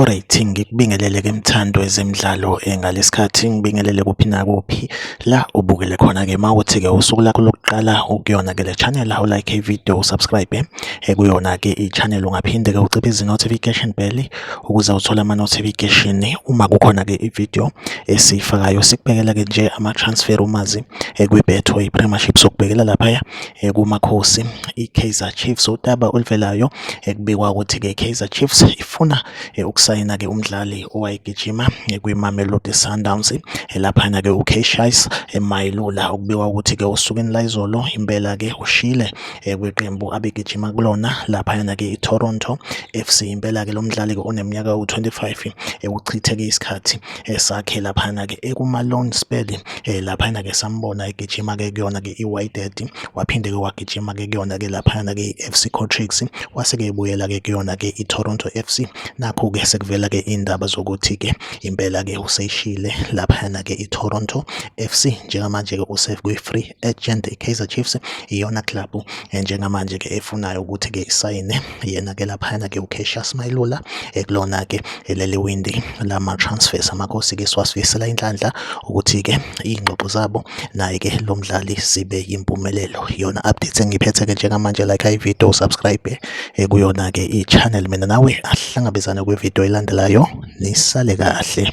Alright ngikubingelele ke mthando wezemidlalo eh, ngalesikhathi ngibingelele kuphi nakuphi la ubukele khona ke mawuthi ke usuku lakho lokuqala ukuyona ke le channel u like video subscribe eh, kuyona ke i channel ungaphinde ke uciphe izi notification bell ukuze uthole ama-notification uma kukhona-ke i-video esiyifakayo sikubhekela-ke nje ama-transfer rumours eh, kwi-betway premiership sokubhekela laphaya eh, kumakhosi i-kaizer chiefs udaba oluvelayo ekubikwa eh, ukuthi-ke i-kaizer chiefs ifuna ukusayina-ke umdlali owayegijima kwi-mamelodi sundowns laphana-ke ukeshais mayilula okubikwa ukuthi-ke osukwini layizolo impela-ke ushile eh, kweqembu abegijima kulona laphayana ke iToronto FC impela ke lo mdlali ke oneminyaka u25 eh, uchitheke isikhathi eh, sakhe laphayana ke ekuma loan spell laphayana ke sambona egijima ke kuyona ke iWydad waphinde ke wagijima ke kuyona ke laphayana ke iFC Cotrix wase ke ebuyela ke kuyona ke iToronto FC nakho ke sekuvela ke indaba zokuthi ke impela ke useshile laphayana ke iToronto FC njengamanje ke usefree agent iKaizer Chiefs iyona club eh, njengamanje ke efunayo ukuthi ke isayine yena ke laphana ke uCassius Mailula ekulona eh, ke eh, leli windi lama transfers amakhosi ke siwasifisela inhlanhla ukuthi ke ingxoxo zabo naye ke lo mdlali sibe yimpumelelo yona update engiphethe ke njengamanje like i video subscribe kuyona ke i channel mina nawe ahlangabezane kwi video elandelayo nisale kahle